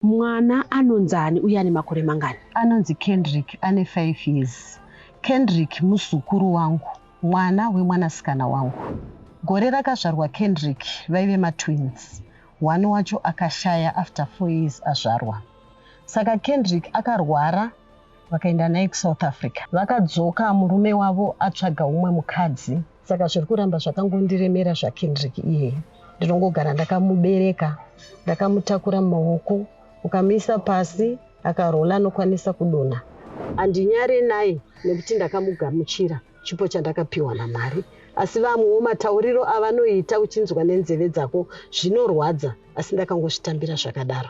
Mwana anonzi ani uye ane makore mangani? Anonzi Kendrick ane 5 years. Kendrick muzukuru wangu, mwana wemwanasikana wangu. Gore rakazvarwa Kendrick vaive matwins, one wacho akashaya after 4 years azvarwa. Saka Kendrick akarwara vakaenda naye kuSouth Africa. Vakadzoka murume wavo atsvaga umwe mukadzi. Saka zviri kuramba zvakangondiremera zvaKendrick iyeye. Ndinongogara ndakamubereka, ndakamutakura mumaoko, ukamuisa pasi akarola anokwanisa kudonha. Andinyare naye nekuti ndakamugamuchira chipo chandakapiwa naMwari. Asi vamwewo matauriro avanoita uchinzwa nenzeve dzako zvinorwadza asi ndakangozvitambira zvakadaro.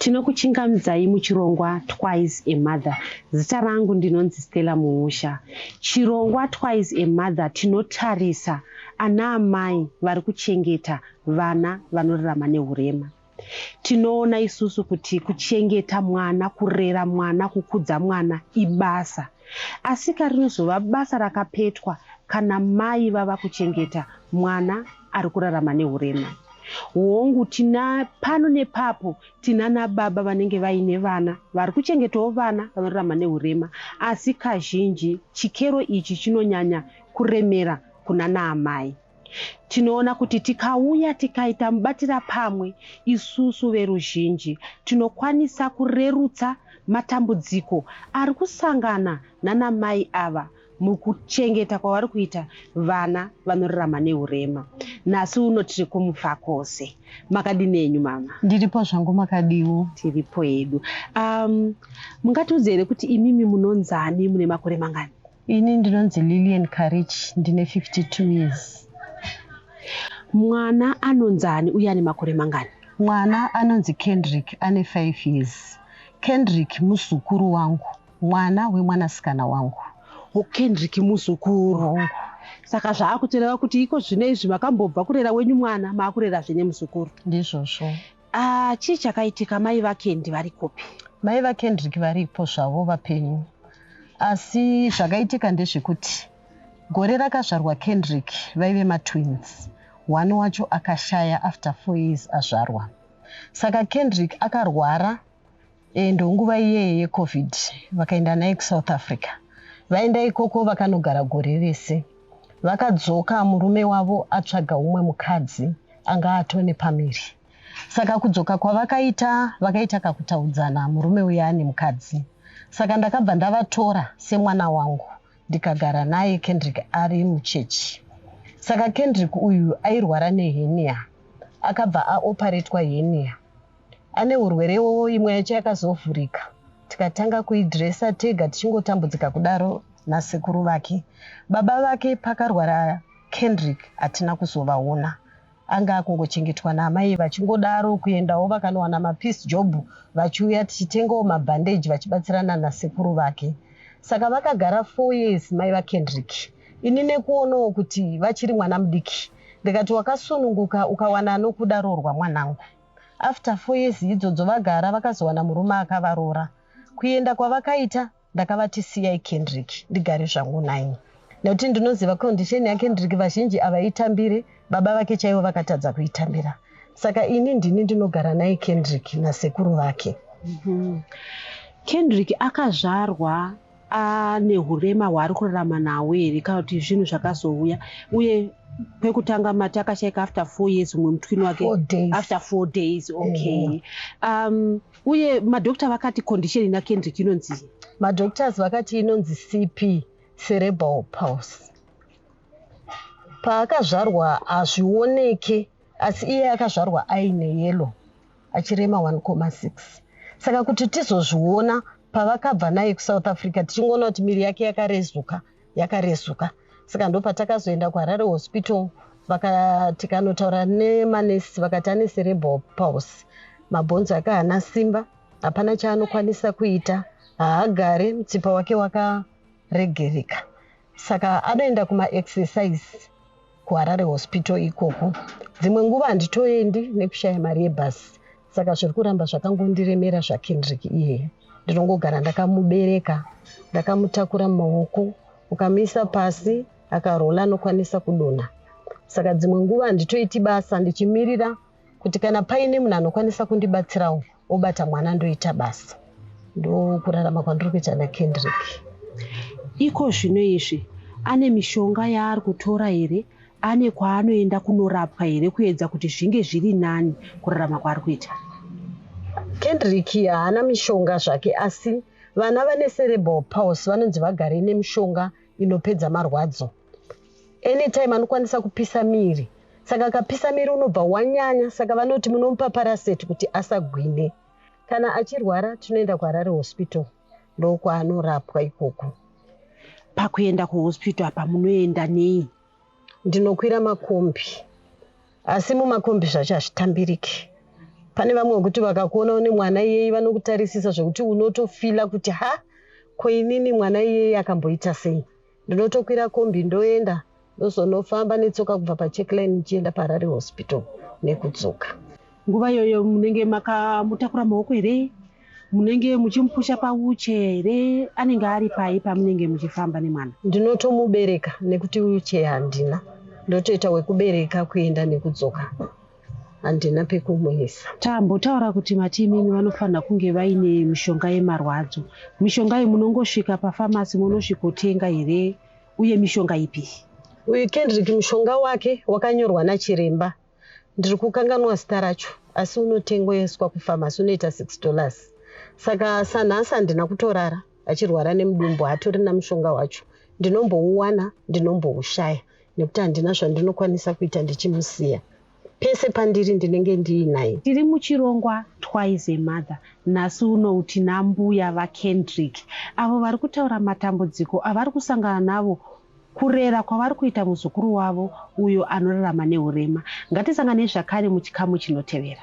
Tinokuchingamidzai muchirongwa Twice a Mother. Zita rangu ndinonzi Stella Muusha. Chirongwa Twice a Mother tinotarisa ana amai vari kuchengeta vana vanorarama nehurema. Tinoona isusu kuti kuchengeta mwana, kurera mwana, kukudza mwana ibasa. Asika rinozova basa rakapetwa kana mai vava kuchengeta mwana ari kurarama nehurema. Hongu, tina pano nepapo tinana baba vanenge vaine vana vari kuchengetawo vana vanorarama nehurema, asi kazhinji chikero ichi chinonyanya kuremera kunana amai. Tinoona kuti tikauya tikaita mubatira pamwe isusu veruzhinji tinokwanisa kurerutsa matambudziko ari kusangana nana mai ava mukuchengeta kwavari kuita vana vanorarama neurema. Nhasi uno tiri kuMufakose. Makadini henyu mama? Ndiripo zvangu, makadiwo? Tiripo hedu. Um, mungatiudze here kuti imimi munonzani, mune makore mangani? Ini ndinonzi Lillian Karich ndine 52 years. Mwana anonzani uye ane makore mangani? Mwana anonzi Kendrick ane 5 years. Kendrick muzukuru wangu, mwana wemwanasikana wangu. Oh, Kendrick muzukuru wangu. Saka zvaakutoreva kuti iko zvino izvi makambobva kurera wenyu mwana maakurerazve nemuzukuru. Ndizvozvo. Ah, chii chakaitika mai vakendi vari kupi? Mai vakendrick varipo zvavo vapenyu asi zvakaitika ndezvekuti gore rakazvarwa kendrick vaive matwins one wacho akashaya after four years azvarwa saka kendrick akarwara E, ndonguva iyeye yecovid vakaenda naye kusouth africa vaenda ikoko vakanogara gore rese vakadzoka murume wavo atsvaga umwe mukadzi anga atone pamiri saka kudzoka kwavakaita vakaita kakutaudzana murume uya ane mukadzi saka ndakabva ndavatora semwana wangu ndikagara naye kendrick ari muchechi saka kendrick uyu airwara nehenia akabva aoparetwa henia ane urwere iwowo imwe yacho yakazovhurika tikatanga kuidresa tega tichingotambudzika kudaro nasekuru vake baba vake pakarwara kendrick hatina kuzovaona anga akungochengetwa naamai vachingodaro kuendawo vakanowana mapeace job vachiuya tichitengawo mabhandeji vachibatsirana nasekuru vake saka vakagara four years mai vakendrick ini nekuonawo kuti vachiri mwana mudiki ndikati wakasununguka ukawana anokuda roorwa mwanangu After four years idzodzo vagara vakazowana murume akavaroora. Kuenda kwavakaita ndakavati siyai Kendrick ndigare zvangu nhaimi nekuti ndinoziva condition yaKendrick vazhinji avaitambire baba vake chaivo vakatadza kuitambira saka ini ndini ndinogara naye Kendrick nasekuru vake. Mm-hmm. Kendrick akazvarwa ane hurema hwaari kurarama nawo here kana kuti zvinhu zvakazouya uye pekutanga mati akashaika after four years umwe mutwini wake after four days okay um, uye madokta vakati condition ina kendrick inonzi madoctors vakati inonzi cp cerebral pulse paakazvarwa hazvioneke asi iye akazvarwa aine yellow achirema 1,6 saka kuti tizozviona pavakabva naye kusouth africa tichingoona kuti miri yake yakarezuka yakarezuka saka ndopatakazoenda kuharare hospital tikanotaura nemanesi vakati ane cerebral pulse mabhonzo ake haana simba hapana chaanokwanisa kuita haagare mutsipa wake wakaregereka Saka anoenda kuma exercise kuHarare Hospital ikoko. Dzimwe nguva handitoendi nekushaya mari yebus. Saka zviri kuramba zvakangondiremera zvaKendrick iyeye. Ndinongogara ndakamubereka, ndakamutakura mumaoko, ukamuisa pasi akarola anokwanisa kudonha. Saka dzimwe nguva handitoiti basa ndichimirira kuti kana paine munhu anokwanisa kundibatsirawo obata mwana ndoita basa ndokurarama kwandiri kuita nakendrick iko zvino izvi ane mishonga yaari kutora here ane kwaanoenda kunorapwa here kuedza kuti zvinge zviri nani kurarama kwaari kuita kendrick haana mishonga zvake asi vana vane cerebral pulse vanonzi vagare nemishonga inopedza marwadzo anytime anokwanisa kupisa miri saka akapisa miri unobva wanyanya saka vanoti munomupa paraseti kuti asagwine kana achirwara tinoenda kuharare hospital ndokwaanorapwa ikoko pakuenda kuhospital apa munoenda nei ndinokwira makombi asi mumakombi zvacho hazvitambiriki pane vamwe vekuti vakakuona une mwana iyeyi vanokutarisisa zvekuti unotofila kuti ha ko inini mwana iyeyi akamboita sei Ndinotokwira kombi ndoenda ndozonofamba netsoka kubva pacheckline ndichienda paharare hospital nekudzoka nguva iyoyo munenge makamutakura maoko here munenge muchimupusha pauche here anenge ari pai pamunenge muchifamba nemwana ndinotomubereka nekuti uche handina ndotoita wekubereka kuenda nekudzoka handina pekumuisa. Tambotaura kuti mati imimi vanofanira kunge vaine mishonga yemarwadzo. Mishonga iyi munongosvika pafamasi monosvikotenga here uye mishonga ipi? Uyu Kendrick mushonga wake wakanyorwa nachiremba. Ndiri kukanganwa zita racho asi unotengeswa kufamasi unoita six dollars. Saka sanhasi handina kutorara achirwara nemudumbu hatorina mushonga wacho ndinombouwana ndinomboushaya nekuti handina zvandinokwanisa kuita ndichimusiya pese pandiri ndinenge ndiinaye tiri muchirongwa twice a mother nhasi uno tina mbuya vakendrick avo vari kutaura matambudziko avari kusangana navo kurera kwavari kuita muzukuru wavo uyo anorarama neurema ngatisanganei zvakare muchikamu chinotevera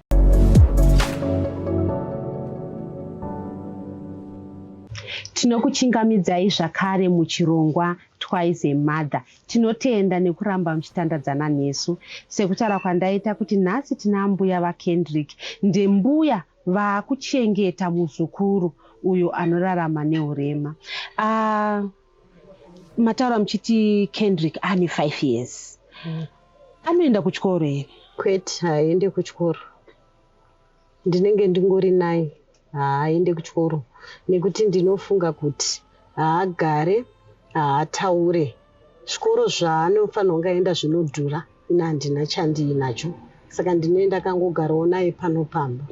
Tinokuchingamidzai zvakare muchirongwa Twice a Mother. Tinotenda nekuramba muchitandadzana nesu. Sekutaura kwandaita kuti nhasi tina ambuya vaKendrick, ndembuya vakuchengeta muzukuru uyo anorarama nehurema. Uh, mataura muchiti kendrick ane five years mm. anoenda kuchikoro here kwete haaende kuchikoro ndinenge ndingori nai haaende kuchikoro nekuti ndinofunga kuti haagare haataure zvikoro zvaanofanirwa kunge aenda zvinodhura ina handina chandiinacho saka ndinoenda kangogarawo naye pano pamba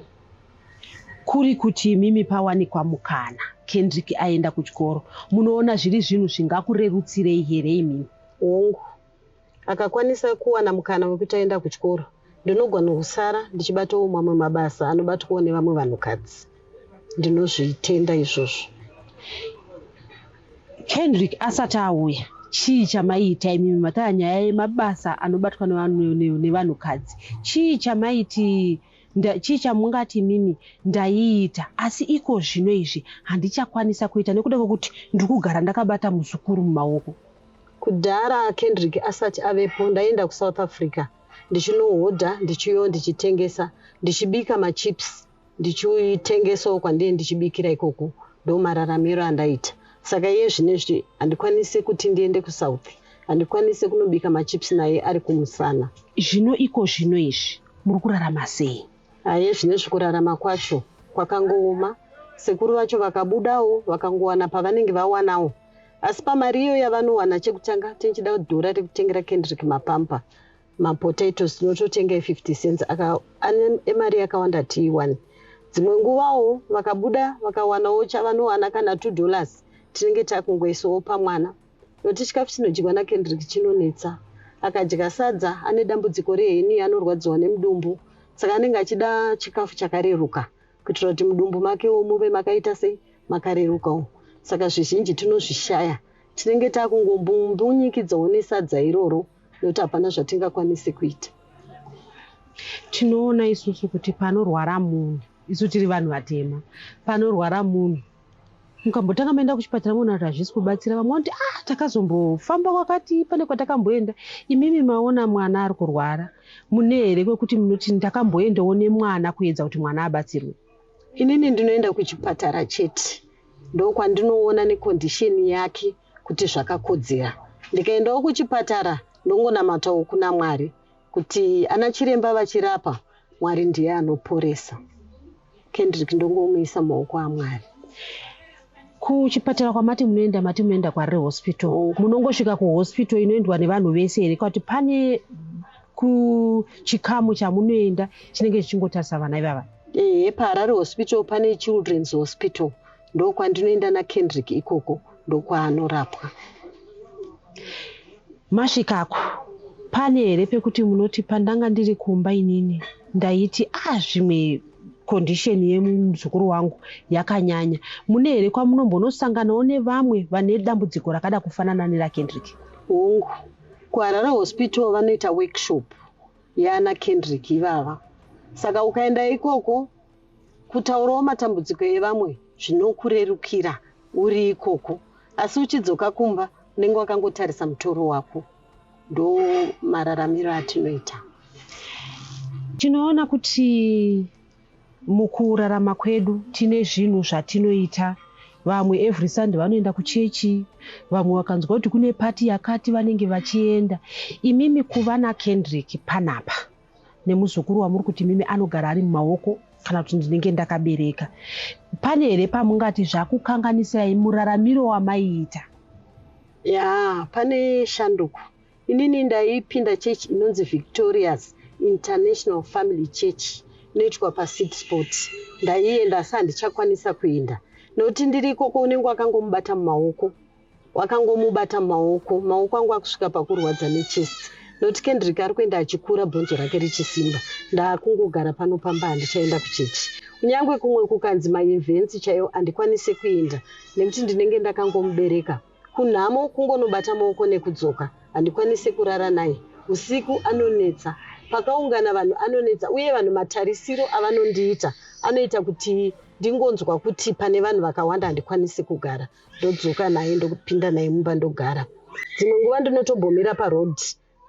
Kuri kuti imimi pawanikwa mukana Kendrick aenda kuchikoro, munoona zviri zvinhu zvingakurerutsirei here imimi? Hongu. Akakwanisa kuwana mukana wekuti aenda kuchikoro, ndinogona kusara ndichibatawo mamwe mabasa anobatwawo nevamwe vanhukadzi. Ndinozvitenda izvozvo. Kendrick asati auya, chii chamaiita imimi? Mataya nyaya yemabasa anobatwa nevanhukadzi. Chii chamaiti Nda, chii chamungati imimi ndaiita, asi iko zvino izvi handichakwanisa kuita nekuda kwekuti ndiri kugara ndakabata muzukuru mumaoko. Kudhara Kendrick asati avepo, ndaienda kuSouth Africa ndichinohodha ndichiuyawo ndichitengesa, ndichibika machips ndichitengesawo kwandaive ndichibikira ikoko. Ndomararamiro andaita. Saka iye zvinezvi handikwanise kuti ndiende kuSouth, handikwanise kunobika machips naye ari kumusana. Zvino iko zvino izvi. Muri kurarama sei? Aye zvinezvi kurarama kwacho kwakangooma. Sekuru vacho vakabudawo vakangowana pavanenge vawanawo asi pamari iyo yavanowana chekutanga tinchida dhora rekutengera Kendrick mapampa mapotatoes tinototenga e50 cents emari yakawanda tiiwane dzimwe nguvawo vakabuda vakawanawo chavanowana kana two dollars tinenge takungoisawo pamwana Noti chikafu chinodyiwa naKendrick chinonetsa. Akadya sadza ane dambudziko rehenia anorwadziwa nemudumbu saka anenge achida chikafu chakareruka kuitira kuti mudumbu makewo muve makaita sei makarerukawo saka zvizhinji tinozvishaya tinenge takungombunyikidzwawo nesadza iroro nekuti hapana zvatingakwanise kuita tinoona isusu kuti panorwara munhu isu tiri vanhu vatema panorwara munhu mukambotanga maenda kuchipatara moona kuti hazvisi kubatsira vamwe vanoti ah takazombofamba kwakati pane kwatakamboenda imimi maona mwana ari kurwara mune here kwekuti munoti ndakamboendawo nemwana kuedza kuti mwana abatsirwe inini ndinoenda kuchipatara chete ndokwandinoona nekondisheni yake kuti zvakakodzera ndikaendawo kuchipatara ndongonamatawo kuna mwari Kuti ana chiremba vachirapa Mwari ndiye anoporesa. Kendrick ndongomuisa mumaoko aMwari. Kuchipatara kwamati munoenda mati munoenda kwarire hospital. Oh. Munongosvika kuhospital inoendwa nevanhu vese here kwati pane kuchikamu chamunoenda chinenge chichingotarisa vana ivava? Ehe, paHarare hospital pane children's hospital. ndokwandinoenda nakendrick ikoko ndokwaanorapwa masvikako pane here pekuti munoti pandanga ndiri kumba inini ndaiti a ah, zvimwe condition yemuzukuru wangu yakanyanya mune here kwamunombonosanganawo nevamwe vane dambudziko rakada kufanana nerakendrick hongu kuharare hospital vanoita workshop yana kendrick ivava saka ukaenda ikoko Kutaurawo matambudziko evamwe zvinokurerukira uri ikoko asi uchidzoka kumba unenge wakangotarisa mutoro wako. Ndo mararamiro atinoita. Tinoona kuti mukurarama kwedu tine zvinhu zvatinoita vamwe every sunday vanoenda kuchechi vamwe vakanzwa kuti kune pati yakati vanenge vachienda imimi kuva nakendrick panapa nemuzukuru wamuri kuti mimi anogara ari mumaoko kana kuti ndinenge ndakabereka pane here pamungati zvakukanganisirai muraramiro wamaiita ya pane shanduko inini ndaipinda church inonzi victorious international family church inoitwa pasid sport ndaienda asi handichakwanisa kuenda nokuti ndiri ikoko unenge wakangomubata mumaoko wakangomubata maoko maoko angu akusvika pakurwadza nechest not kendrick ari kuenda achikura bhonzo rake richisimba ndaakungogara pano pamba handichaenda kuchechi kunyange kumwe kukanzi maevents chaiyo handikwanise kuenda nekuti ndinenge ndakangomubereka kunhamo kungonobata maoko nekudzoka handikwanise kurara naye usiku anonetsa pakaungana vanhu anonetsa uye vanhu matarisiro avanondiita anoita kuti ndingonzwa kuti pane vanhu vakawanda handikwanisi kugara ndodzoka naye ndokupinda naye mumba ndogara dzimwe nguva ndinotombomira paroad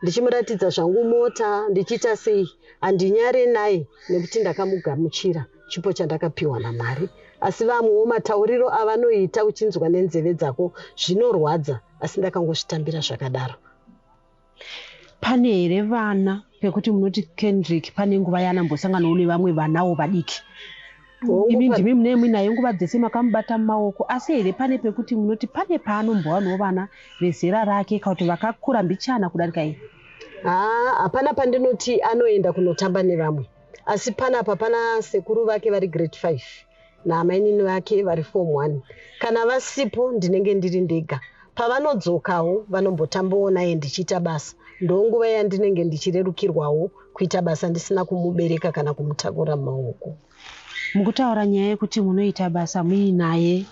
ndichimuratidza zvangu mota ndichiita sei handinyare naye nekuti ndakamugamuchira chipo chandakapiwa namwari asi vamwewo matauriro avanoita uchinzwa nenzeve dzako zvinorwadza asi ndakangozvitambira zvakadaro Pane here vana pekuti munoti Kendrick pane nguva yaanambosanganawo nevamwe vanawo vadiki? Imi ndimi mune muinaye nguva dzese makamubata mumaoko asi here pane pekuti munoti pane paanombowanawo vana vezera rake kana kuti vakakura mbichana kudarika iye? Haa, hapana pandinoti anoenda kunotamba nevamwe asi panapa pana sekuru vake vari grade 5. naamainini vake vari form one. Kana vasipo ndinenge ndiri ndega. Pavanodzokawo vanombotambawo naye ndichiita basa. Ndonguva yandinenge ndichirerukirwawo kuita basa ndisina kumubereka kana kumutakura mumaoko. Mukutaura nyaya yekuti munoita basa muinaye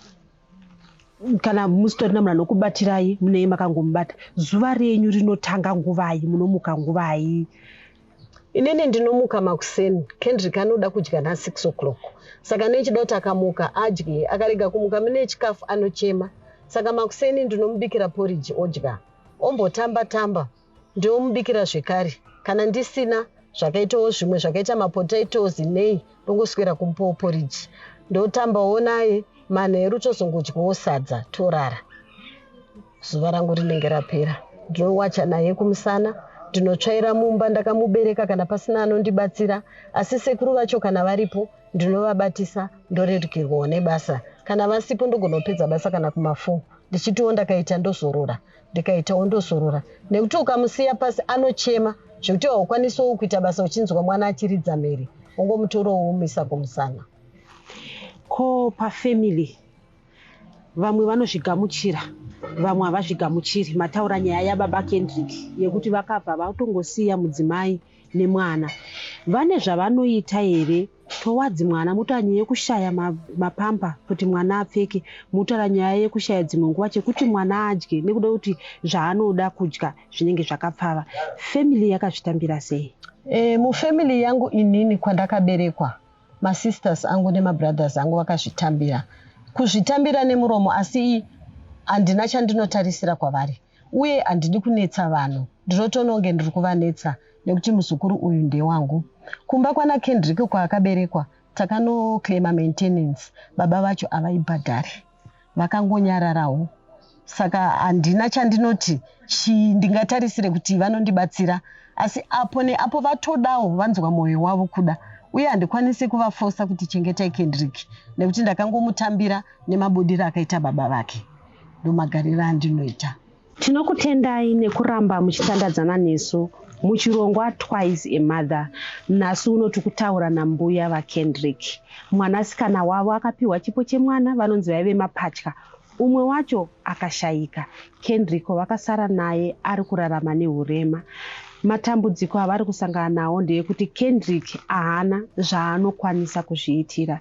kana musitorina munhu anokubatirai munei makangomubata zuva renyu rinotanga nguvai munomuka nguvai inini ndinomuka makuseni kendrick anoda kudya na6 o'clock saka nechida kuti akamuka adye akarega kumuka mune chikafu anochema saka makuseni ndinomubikira poriji odya ombotamba tamba ndomubikira zvekare kana ndisina zvakaitawo zvimwe zvakaita mapotatoes nei ndongoswera kumupawo poriji ndotambawo naye manheru tozongodyawo sadza torara zuva rangu rinenge rapera ndinowacha naye kumusana ndinotsvaira mumba ndakamubereka kana pasina anondibatsira asi sekuru vacho kana varipo ndinovabatisa ndorerukirwawo nebasa kana vasipo ndogonopedza basa kana kumafo ndichitiwo ndakaita ndozorora ndikaita wondozorora nekuti ukamusiya pasi anochema zvekuti haukwanisowo kuita basa uchinzwa mwana achiridza mhere ungomutorawo womisa kumusana ko pafamily vamwe vanozvigamuchira vamwe havazvigamuchiri mataura nyaya yababa kendrick yekuti vakabva vatongosiya mudzimai nemwana vane zvavanoita here Towards mwana motaura nyaya yekushaya mapamper kuti mwana apfeke, motaura nyaya yekushaya dzimwe nguva chekuti mwana adye nekuda kuti zvaanoda kudya zvinenge zvakapfava. Family yakazvitambira sei? Eh, mufamily yangu inini kwandakaberekwa masisters angu nemabrothers angu vakazvitambira. Kuzvitambira nemuromo asi handina chandinotarisira kwavari. uye handidi kunetsa vanhu ndinotoona kunge ndiri kuvanetsa nekuti muzukuru uyu ndewangu. Kumba kwana Kendrick kwaakaberekwa takanoclaima maintenance baba vacho havaibhadhari. Vakangonyararawo saka handina chandinoti chii ndingatarisire kuti vanondibatsira asi apo neapo vatodawo vanzwa mwoyo wavo kuda uye handikwanisi kuvafosa kuti chengetai Kendrick nekuti ndakangomutambira nemabudiro akaita baba vake. ndomagariro andinoita. Tinokutendai nekuramba muchitandadzana nesu muchirongwa Twice a Mother. Nhasi uno tikutaura nambuya vaKendrick. Mwanasikana wavo akapiwa chipo chemwana vanonzi vaive mapatya. Umwe wacho akashaika. Kendrick vakasara naye ari kurarama nehurema. Matambudziko avari kusangana nawo ndeekuti Kendrick ahana zvaanokwanisa kuzviitira.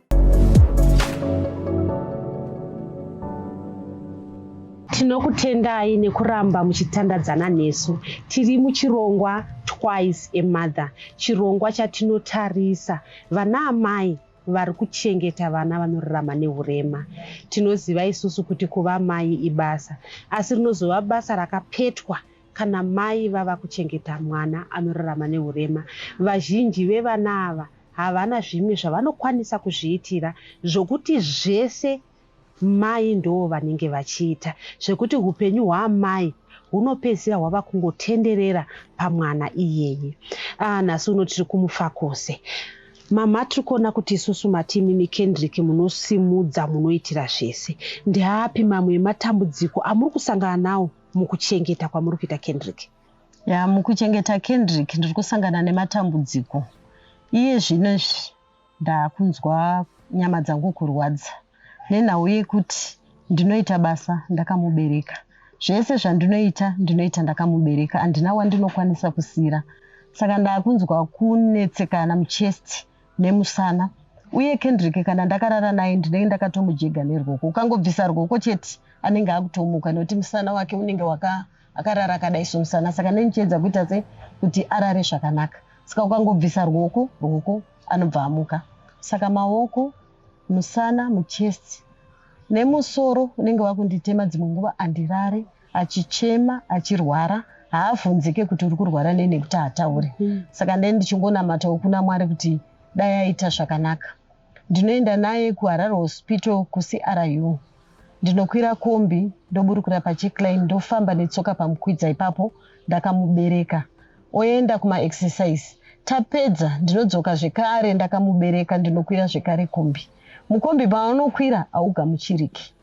tinokutendai nekuramba muchitandadzana nesu tiri muchirongwa twice a mother chirongwa chatinotarisa vana amai vari kuchengeta vana vanorarama neurema tinoziva isusu kuti kuva mai ibasa asi rinozova basa rakapetwa Kana mai vava kuchengeta mwana anorarama nehurema, vazhinji vevana ava havana zvimwe zvavanokwanisa kuzviitira zvokuti zvese mai ndoo vanenge vachiita zvekuti hupenyu hwaamai hunopedzisira hwava kungotenderera pamwana iyeye. Ah, nhasi uno tiri kumufakose. Mama tiri kuona kuti isusu mati imimi Kendrick munosimudza munoitira zvese. Ndeapi mamwe ematambudziko amuri kusangana nawo mukuchengeta kwamuri kuita kendrick ya mukuchengeta kendrick ndiri kusangana nematambudziko iye zvino izvi ndakunzwa nyama dzangu kurwadza nenhau yekuti ndinoita basa ndakamubereka zvese zvandinoita ndinoita ndakamubereka handina wandinokwanisa kusiyira saka ndakunzwa kunetsekana muchest nemusana uye Kendrick kana ndakarara naye ndinenge ndakatomujega nerwoko ukangobvisa rwoko chete anenge akutomuka nekuti musana wake unenge waka akarara akadai somusana saka nenichiedza kuita se kuti arare zvakanaka saka ukangobvisa rwoko rwoko anobva amuka saka maoko musana muchest nemusoro unenge wakunditema dzimwe nguva andirare achichema achirwara haavhunzike kuti uri kurwara nei nekuti haataure mm. saka ndai ndichingonamatawo kuna mwari kuti dai aita zvakanaka ndinoenda naye kuharare hospital kucru ndinokwira kombi ndoburukira pachicline ndofamba netsoka pamukwidza ipapo ndakamubereka oenda kumaexercise tapedza ndinodzoka zvekare ndakamubereka ndinokwira zvekare kombi mukombi paanokwira haugamuchiriki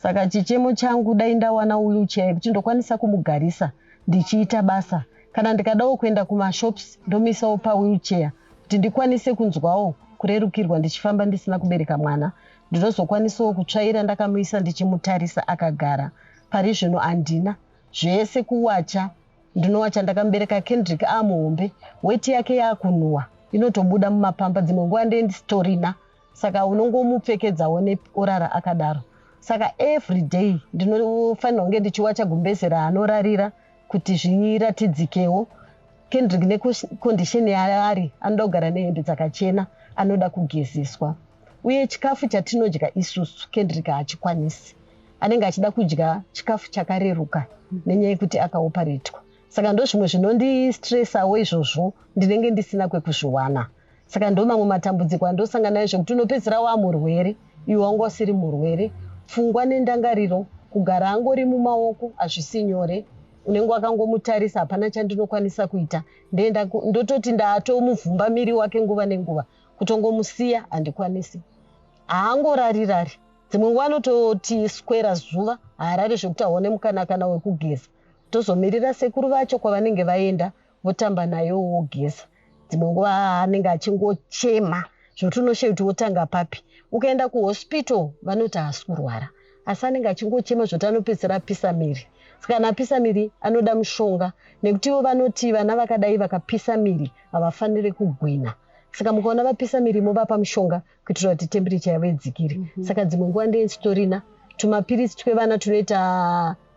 Saka chichemo changu dai ndawana wheelchair yekuti ndokwanisa kumugarisa ndichiita basa kana ndikadawo kuenda kumashops ndomisawo pawheelchair kuti ndikwanise kunzwawo kurerukirwa ndichifamba ndisina kubereka mwana ndinozokwanisawo kutsvaira ndakamuisa ndichimutarisa akagara pari zvino handina zvese kuwacha ndinowacha ndakamubereka kendrick amuhombe weti yake yakunhuwa inotobuda mumapamba dzimwe nguva ndendi storina saka unongomupfekedzawo neorara akadaro saka everyday ndinofanira kunge ndichiwacha gumbeze raanorarira kuti zviratidzikewo kendrick nekondisheni yaari anoda kugara nehembe dzakachena anoda kugezeswa uye chikafu chatinodya isusu kendrick haachikwanisi anenge achida kudya chikafu chakareruka nenyaya yekuti akaoparetwa saka ndozvimwe zvinondistresawo izvozvo ndinenge ndisina kwekuzviwana saka ndo mamwe matambudziko andosangana nayo zvekuti unopedzisira waa murwere iwe wanga usiri murwere pfungwa nendangariro kugara angori mumaoko hazvisi nyore unenge wakangomutarisa hapana chandinokwanisa kuita ndoenda ndototi ndaatomuvhumba miri wake nguva nenguva kutongomusiya handikwanisi haangorarirari dzimwe nguva anototi skwera zuva haarari zvekuti aone mukanakana wekugeza tozomirira sekuru vacho kwavanenge vaenda votamba nayo wogeza dzimwe nguva anenge achingochema zvokuti unoshe kuti wotanga papi ukaenda kuhospital vanoti haasi kurwara asi anenge achingochema zvokuti anopedzisira apisa miri sikana apisa miri anoda mushonga nekuti ivo vanoti vana vakadai vakapisa miri havafanire kugwina saka mukaona vapisa miri movapa mushonga kuitira kuti temperature yavo idzikire mm -hmm. saka dzimwe nguva ndee sitorina tumapiritsi twevana tunoita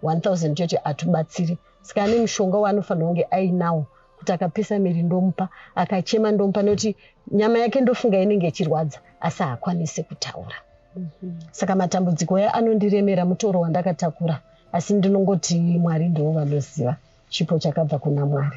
1000 chete hatubatsiri saka ane mushonga waanofanira kunge ainawo kuti akapisa miri ndomupa akachema ndomupa nekuti nyama yake ndofunga inenge ichirwadza asi haakwanise kutaura mm -hmm. saka matambudziko aya anondiremera mutoro wandakatakura asi ndinongoti mwari ndivo vanoziva chipo chakabva kuna mwari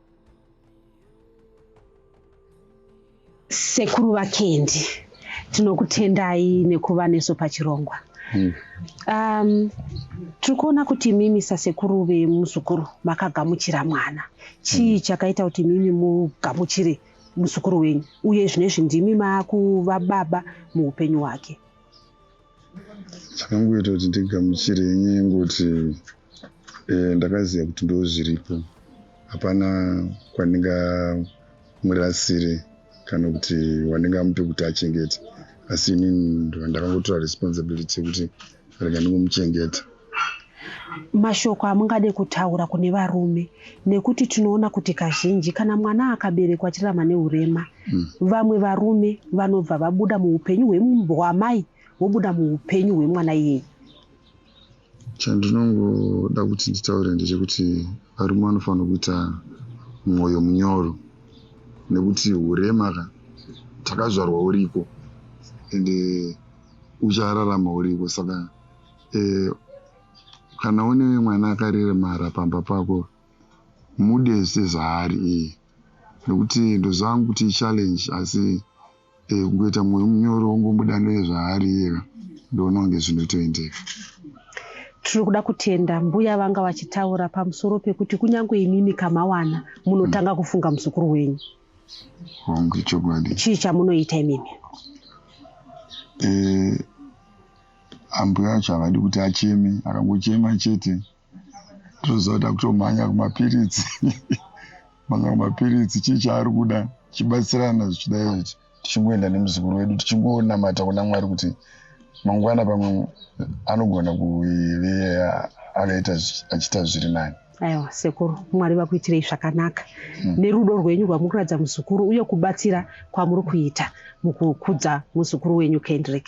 sekuru vakendi tinokutendai nekuva nesu pachirongwa hmm. um, tiri kuona kuti mimi sasekuru vemuzukuru makagamuchira mwana chii hmm. chakaita kuti mimi mugamuchire muzukuru wenyu uye zvine izvi ndimi makuva baba muupenyu hwake chakangoita kuti ndigamuchire nyaya yengoti eh, ndakaziva kuti ndo zviripo hapana kwandingamurasire kana kuti wandingamupe kuti achengete asi inini ndakangotora responsibility yekuti rega ndingomuchengeta mashoko amungade kutaura kune varume nekuti tinoona kuti kazhinji kana mwana akaberekwa achirarama neurema mm. vamwe varume vanobva vabuda muupenyu hwemumboamai vobuda muupenyu hwemwana iyeye chandinongoda kuti nditaure ndechekuti varume vanofanira kuita mwoyo munyoro nekuti urema ka takazvarwa uriko ende uchararama uriko saka Eh, kana une mwana akareremara pamba pako mude sezvaari iye nekuti ndoziva hangu kuti ichallenge asi eh, kungoita mwoyo munyoro wongomuda nezvaari iyeka ndoona kunge zvinotoendeka tiri kuda kutenda mbuya vanga vachitaura pamusoro pekuti kunyange imimi kamawana munotanga mm. kufunga muzukuru wenyu hongu chokwadi chii chamunoita imimi eh, ambuya acho havadi kuti acheme akangochema chete toziva kuti akutomhanya kumapiritsi mhanya kumapiritsi chii chaari kuda chibatsirana zvichidai tichingoenda nemuzukuru wedu tichingonamata kuna mwari kuti mangwana pamwe anogona kuve akaita achiita zviri nani aiwa sekuru mwari vakuitirei zvakanaka hmm. nerudo rwenyu rwamuri kuratidza muzukuru uye kubatsira kwamuri kuita mukukudza muzukuru wenyu kendrick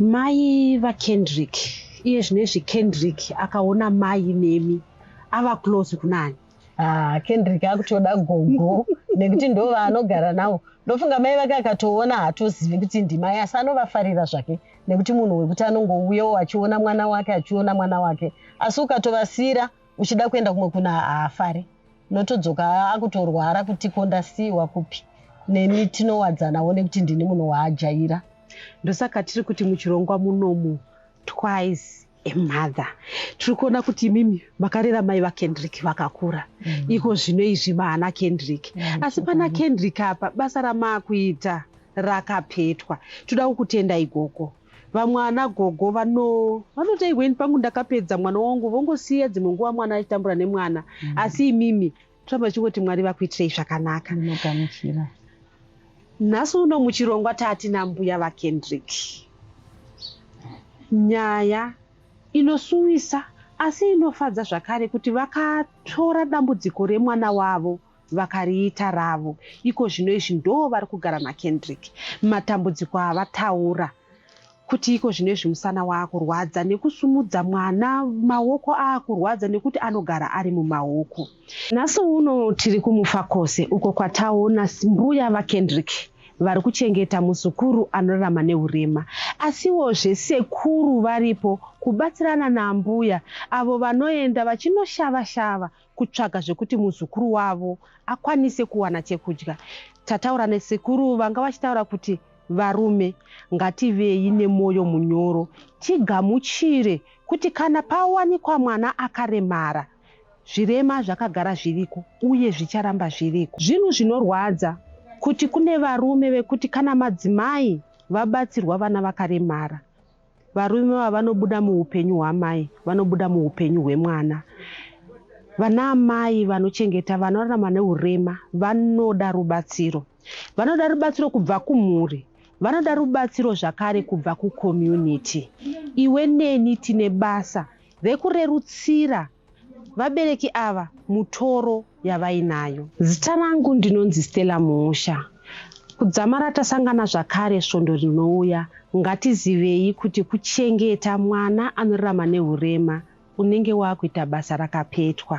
mai vakendrick iye zvinezvi kendrick akaona mai nemi ava close kunani ah, kendrick akutoda gogo nekuti ndo vaanogara navo ndofunga mai vake akatoona haatozivi kuti ndimai asi anovafarira zvake nekuti munhu wekuti anongouyawo achiona mwana wake achiona mwana wake asi ukatovasira uchida kuenda kumwe kuna haafari notodzoka akutorwara kuti ko ndasiiwa kupi neni tinowadzanawo nekuti ndini munhu waajaira ndosaka tiri kuti muchirongwa munomu twice emother tiri kuona kuti imimi makarera mai vakendrick vakakura mm. iko zvino izvi maana kendrick mm. asi pana kendrick apa basa ramaakuita rakapetwa toda kukutenda igogo Vamwe ana gogo vano vanotei when pangu ndakapedza mwana wangu vongosiya dzimwe nguva mwana achitambura nemwana mm -hmm. asi imimi toramba tichingoti mwari vakuitirei zvakanaka ndinogamuchira nhasi uno muchirongwa tati nambuya vakendrick nyaya inosuwisa asi inofadza zvakare kuti vakatora dambudziko remwana wavo vakariita ravo iko zvino izvi ndo vari kugara naKendrick matambudziko avataura kuti iko zvino izvi musana waakurwadza nekusumudza mwana maoko aakurwadza nekuti anogara ari mumaoko nhasi uno tiri kumufakose uko kwataona mbuya vakendrick vari kuchengeta muzukuru anorarama neurema asiwozve sekuru varipo kubatsirana naambuya avo vanoenda vachinoshava shava kutsvaga zvekuti muzukuru wavo akwanise kuwana chekudya. Tataura nasekuru vanga vachitaura kuti varume ngativei nemoyo munyoro tigamuchire kuti kana pawanikwa mwana akaremara zvirema zvakagara zviriko uye zvicharamba zviriko. Zvinhu zvinorwadza kuti kune varume vekuti kana madzimai vabatsirwa vana vakaremara Varume ava vanobuda muupenyu hwamai, vanobuda muupenyu hwemwana. Vana amai vanochengeta vana vanorarama neurema vanoda rubatsiro. Vanoda rubatsiro kubva kumhuri, vanoda rubatsiro zvakare kubva kucommunity. Iwe neni tine basa rekurerutsira Vabereki ava mutoro yavainayo. Zita rangu ndinonzi Stella Muusha. Kudzamara tasangana zvakare svondo rinouya. Ngatizivei kuti kuchengeta mwana anorarama nehurema unenge wakuita basa rakapetwa.